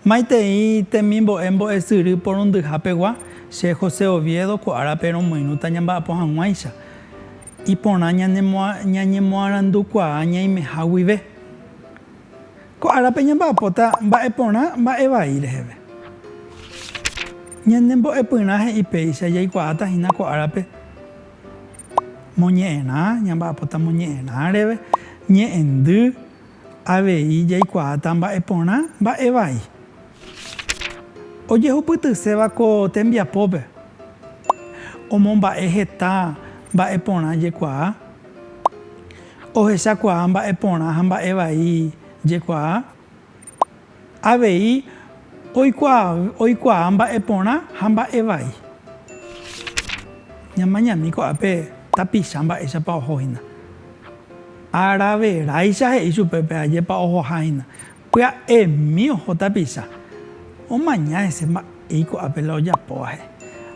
Maitei temimbo'e mbo'esyry porundyha pegua, che José Oviedo ko árape romoirũta ñamba'apo hag̃uáicha. Iporã ñañemoarandukuaa ñaimeha guive. Ko árape ñamba'apóta mba'e porã mba'e vai reheve. Ñane mbo'epyrã he'i péicha jaikuaáta hína ko árape moñe'ẽrã, ñamba'apóta moñe'ẽrã reve, ñe'ẽndy, avei jaikuaáta mba'e porã mba'e vai. Ojehupytyséva ko tembiapópe omomba'e heta mba'e porã jekuaa. Ohechakuaa mba'e porã ha mba'e vai jekuaa. Avei oikuaa mba'e porã ha mba'e vai. Ñamañami ko'ápe tapicha mba'éichapa oho hína. Araveraicha he'i chupe pe ajépa ohoha hína. Pya'emi oho tapicha, omaña hese mba'éi ko'ápe la ojapóva he'i.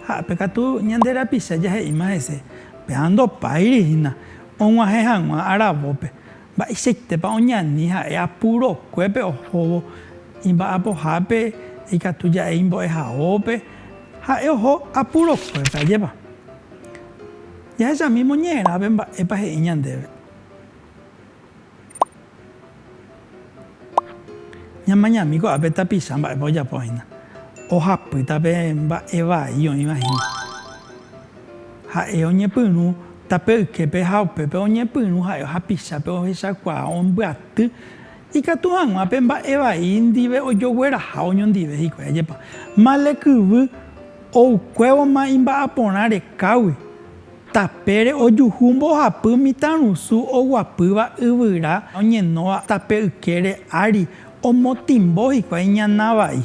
Ha ápe katu ñande rapicha jahe'íma hese, péva ndopáiri hína og̃uahẽ hag̃ua aravópe, mba'eichaitépa oñani ha'e apurokuépe ohóvo imba'apohápe ikatu ja'e imbo'ehaópe, ha'e oho apurokuépe, ajépa? Jahechamímo ñe'ẽrápe mba'épa he'i ñandéve. Ñamañami ko'ápe tapicha mba'épa ojapo hína. Ohapýta pe mba'e vai oĩva hína. Ha'e oñepyrũ tape yképe ha upépe oñepyrũ ha'e ohapichápe ohechakuaa ombyaty ikatu hag̃ua pe mba'e vai ndive ojogueraha oñondive hikuái. Ajépa male kyvy oukuévoma imba'aporã rekágui Tapére ojuhu mbohapy mitãrusu oguapýva yvyra oñenóva tape ykére ári omotĩmbo hikuái ñana vai.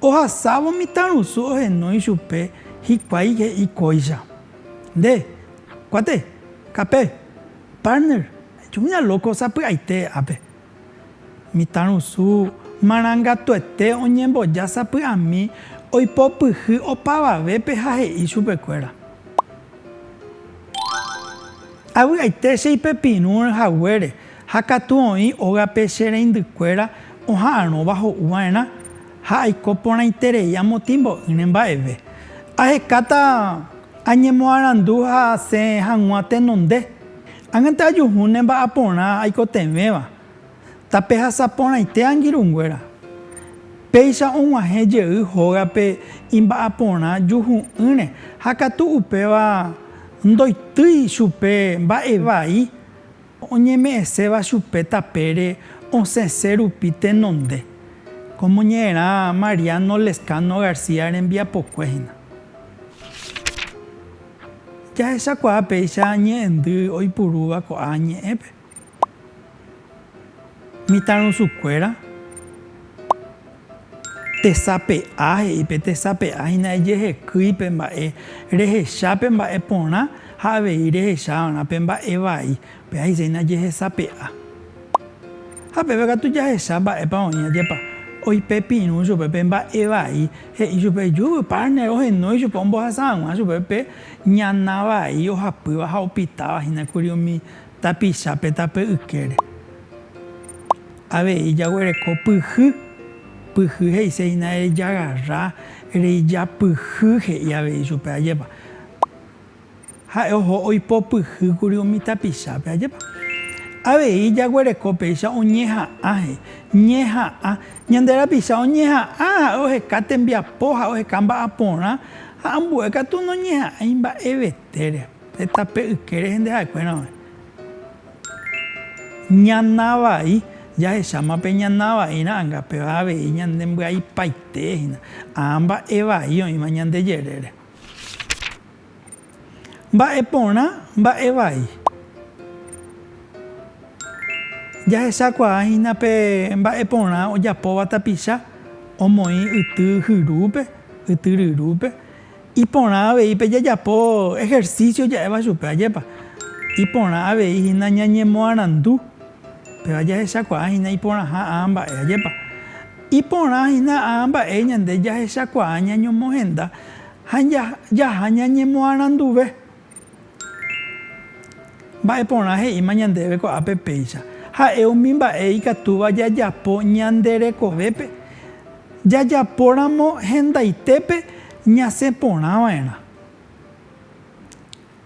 Ohasávo mitãrusu ohenói chupe hikuái he'i kóicha, Nde, kuate, kape, partner, ajuhu ñalóko sapy'aite ápe. Mitãrusu marangatuete oñemboja sapy'ami oipopyhy opavavépe ha he'i chupekuéra, Avy'aite che ipepirũ haguére ha katu oĩ ógape che reindykuéra oha'arõva ho'u va'erã, ha aiko porãiterei amotĩmbo'ỹre mba'eve. Ahekáta añemoarandu ha asẽ hag̃ua tenonde. Ág̃ante ajuhu ne mba'aporã aikotevẽva, tapehasa porãite angirũnguéra. Péicha og̃uahẽ jey hógape imba'aporã juhu'ỹre ha katu upéva ndoitýi chupe mba'evai oñeme'ẽséva chupe tapére osẽse rupi tenonde, kómo ñe'ẽrã Mariano Lezcano García rembiapokue hína. Jahechakuaa péicha ñe'ẽndy oipurúva ko'ã ñe'ẽpe. Mitãrusukuéra tesape'a he'i pe tesape'a hína ejehekýi pe mba'e rehecha pe mba'e porã ha avei rehecha va'erã pe mba'e vai. Pe'aiséina jehesape'a. Ha peve katu jahecha mba'épa oĩ ajepa. Oipepirũ chupe pe mba'e vai, he'i chupe, Júvy, partner, ohenói chupe ombohasa hag̃ua chupe pe ñana vai ohapýva ha opitáva hína kuri umi tapicha pe tape ykére. Avei jaguereko pyhy. Pyhy he'ise hína erejagarra, ereijapyhy, he'i avei chupe ajepa. Ha'e oho oipopyhýkuri umi tapichápe. Ajépa avei jaguereko péicha oñeha'ãhe, ñeha'ã. Ñande rapicha oñeha'ã ha'e oheka tembiapo ha oheka mba'aporã ha ambue katu noñeha'ãi mba'evetére. Heta pe yke rehe nde ha'ekuéra oĩ. Ñana vai, jahecháma pe ñana vai ra'anga, péva avei ñane mbyaipaite hína. Ã mba'e vai oĩva ñande jerére. Mba'e porã mba'e vai. Jahechakuaa hína pe mba'e porã ojapóva tapicha omoĩ yty hyrúpe, yty ryrúpe. Iporã avei pe jajapo ejercicio ja'éva chupe, ajépa. Iporã avei hína ñañemoarandu, péva jahechakuaa hína iporãha aa mba'e, ajépa. Iporã hína aa mba'e ñande jahechakuaa ñañomohenda. Ha jaha ñañemoaranduve. Mba'e porã he'íma ñandéve ko'ápe péicha? Ha'e umi mba'e ikatúva jajapo ñande rekovépe, jajapóramo hendaitépe ñasẽ porãva'erã.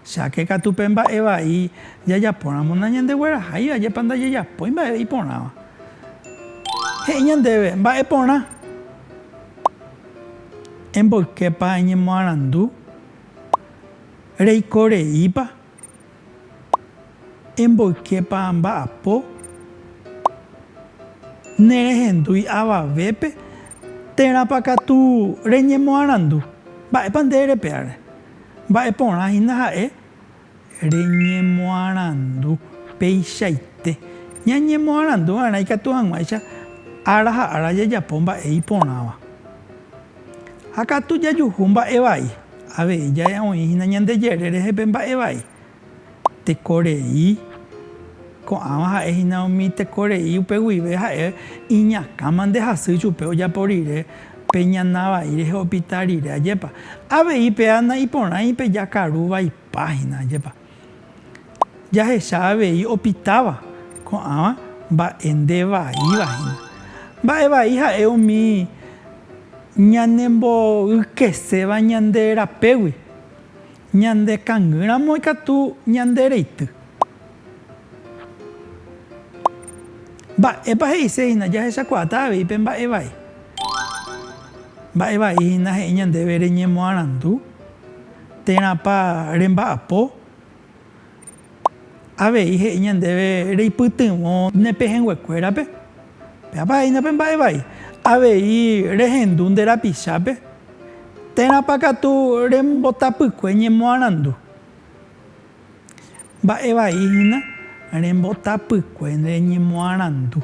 Cháke katu pe mba'e vai jajapóramo nañandegueraháiva, ajépa ndajajapói mba'e iporãva. He'i ñandéve, Mba'e porã. Emboyképa eñemoarandu? Reiko reípa? Emboyképa amba'apo? Nerehendúi avavépe? Térãpa katu reñemoarandu? Mba'épa nde erepe'áre? Mba'e porã hína ha'e reñemoarandu peichaite. Ñañemoarandu va'erã ikatu hag̃uáicha ára ha ára jajapo mba'e iporãva. Ha katu jajuhu mba'e vai, avei ja'e oĩ hína ñande jerére jepe mba'e vai. Tekorei. Ko'ãva ha'e hína umi tekorei upe guive ha'e iñakãma nde hasy chupe ojapo rire pe ñana vai rehe opita rire. Ajépa. Avei péa na'iporãi pe jakaru vaipa hína. Ajépa. Jahecha avei opitáva. Ko'ãva mba'e nde vaíva hína. Mba'e vai ha'e umi ñanemboykeséva ñande rapégui. Ñande kangy ramo ikatu ñande reity. Mba'épa he'ise hína jahechakuaáta avei pe mba'e vai? Mba'e vai hína he'i ñandéve reñemoarandu térãpa remba'apo Avei he'i ñandéve reipytyvõ ne pehẽnguekuérape, péapa ha'éina pe mba'e vai, avei rehendu nde rapichápe, térãpa katu rembotapykue ñemoarandu. Mba'e vai hína rembotapykue nde ñemoarandu,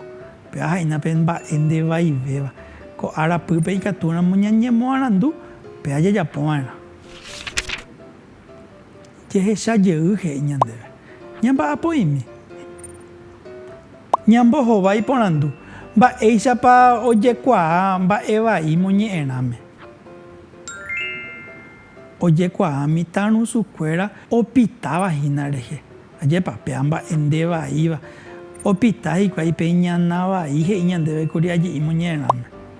péva ha'éina pe mba'e nde vaivéva, ko ára pýpe ikatúramo ñañemoarandu, péva jajapo va'erã. Jehecha jey he'i ñandéve, Ñamba'apo'imi. Ñambohova iporandu, Mba'éichapa ojekuaa mba'e vai moñe'ẽrãme? Ojekuaa mitã rusukuéra opitáva hína rehe. Ajépa, péa mba'e nde vaíva. Opita hikuái pe iñana vai he'i ñandéve kuri aje'i moñe'ẽrãme.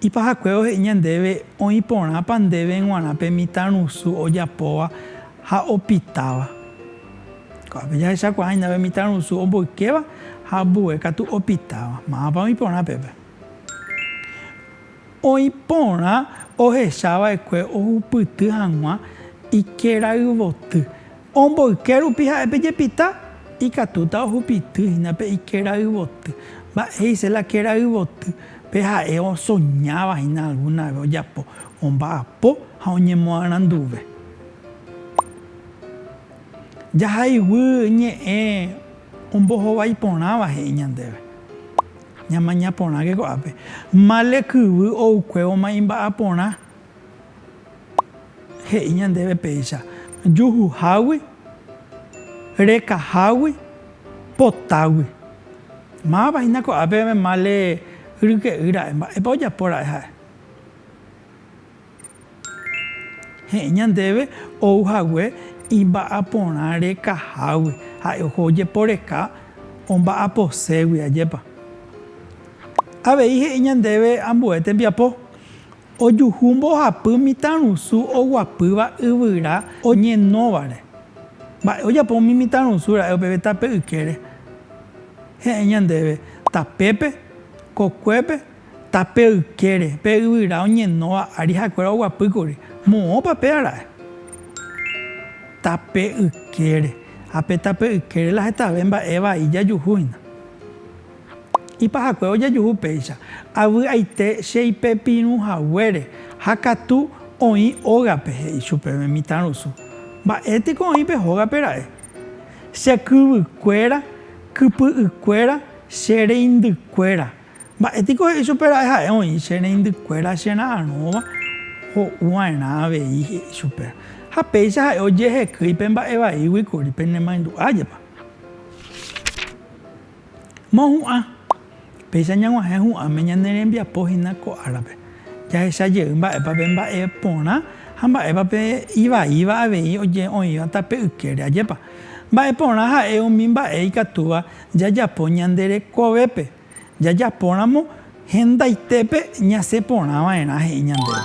Ipahakue ohe'i ñandéve oĩ porãpa ndéve g̃uarã pe mitãrusu ojapóva ha opitáva. Ko'ápe jahechakuaa hína pe mitãrusu omboykéva ha ambue katu opitáva. Mávapa oĩ porã pépe? Oĩ porã ohecha va'ekue ohupyty hag̃ua ikerayvoty. Omboyke rupi ha'e pe jepita, ikatúta ohupity hína pe ikéra yvoty. Mba'éicha la kéra yvoty? Pe ha'e osoñáva hína algúna ve ojapo, omba'apo ha oñemoaranduve. Jahaygui ñe'ẽ ombohovái porãva he'i ñandéve. Ñamaña porãke ko'ápe. Male kyvy oukuévoma imba'aporã. He'i ñandéve péicha, juhuhágui, rekahágui, potágui. Mávapa hína ko'ápe male ryke'y ra'e, mba'épa ojapo ra'e ha'e. He'i ñandéve ou hague imba'aporã rekahágui, ha'e oho ojeporeka omba'aposégui, ajépa. Avei he'i ñandéve ambue tembiapo, Ojuhu mbohapy mitãrusu oguapýva yvyra oñenóvare. Mba'e ojapo umi mitãrusu ra'e upépe tape ykére? Heẽ ñandéve, tapépe, kokuépe, tape ykére, pe yvyra oñenóva ári ha'ekuéra oguapy kuri. Moõpa péa ra'e? Tape ykére. Ha pe tape ykére la hetave mba'e vai jajuhu hína. Ipahakue ojejuhu péicha, avy'aite che ipepirũ haguére, ha katu oĩ ógape, he'i chupe umi mitãrusu, Mba'e piko oĩ pe hógape ra'e? Che kyvykuéra, kypy'ykuéra, che reindykuéra. Mba'e piko he'i chupe ra'e ha'e oĩ che reindykuéra che ra'arõva ho'u va'erã avei, he'i chupe. Ha péicha ha'e ojehekýi pe mba'e vaígui kuri, pene maindu'a jepa. Mohu'ã, péicha ñag̃uahẽ hu'ãme ñane rembiapo hína ko árape. Jahecha jey mba'épa pe mba'e porã ha mba'épa pe ivaíva avei oĩvata pe ykére. Ajépa? Mba'e porã ha'e umi mba'e ikatúva jajapo ñande rekovépe. Jajapóramo hendaitépe ñasẽ porã va'erã he'i ñandéve.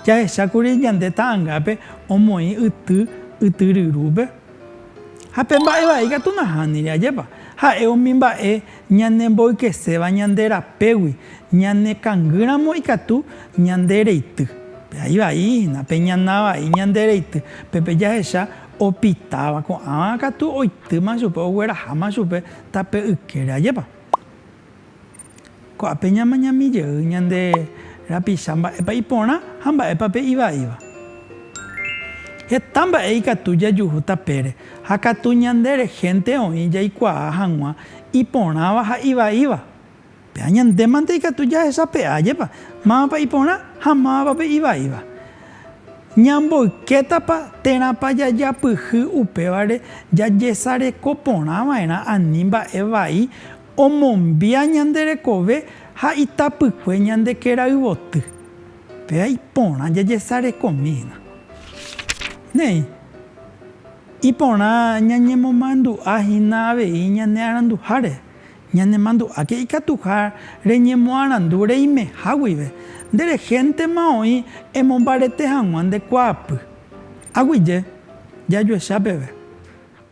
Jahecha kuri ñande ta'angápe omoĩ yty ytyryrúpe. Ha pe mba'e vai katu nahániri, ajépa? Ha'e umi mba'e ñanemboykeséva ñande rapégui, ñanekangýramo ikatu ñande reity. Pe ai vai hína, pe ñana vai ñande reity, pe pe jahecha opitáva, ko'ãva katu oitýma chupe, ogueraháma chupe tape ykére, ajépa? Ko'ápe ñamañami jey ñande rapicha mba'épa iporã ha mba'épa pe ivaíva. Heta mba'e ikatu jajuhu tapére ha katu ñande rehente oĩ jaikuaa hag̃ua iporãva ha ivaíva. Péva ñande mante ikatu jahesape'a jepa mávapa iporã ha mávapa pe ivaíva. Ñamboykétapa térãpa jajapyhy upévare jajesareko porã va'erã ani mba'e vai Omombia ñande rekove ha itapykue ñande kéra yvoty. Péva iporã jajesarekomi hína. Néi, iporã ñañemomandu'a hína avei ñane aranduháre. Ñanemandu'áke ikatuha reñemoarandu reimeha guive. Nde rehéntema oĩ emombarete hag̃ua nde kuaapy. Aguyje, jajuecha peve.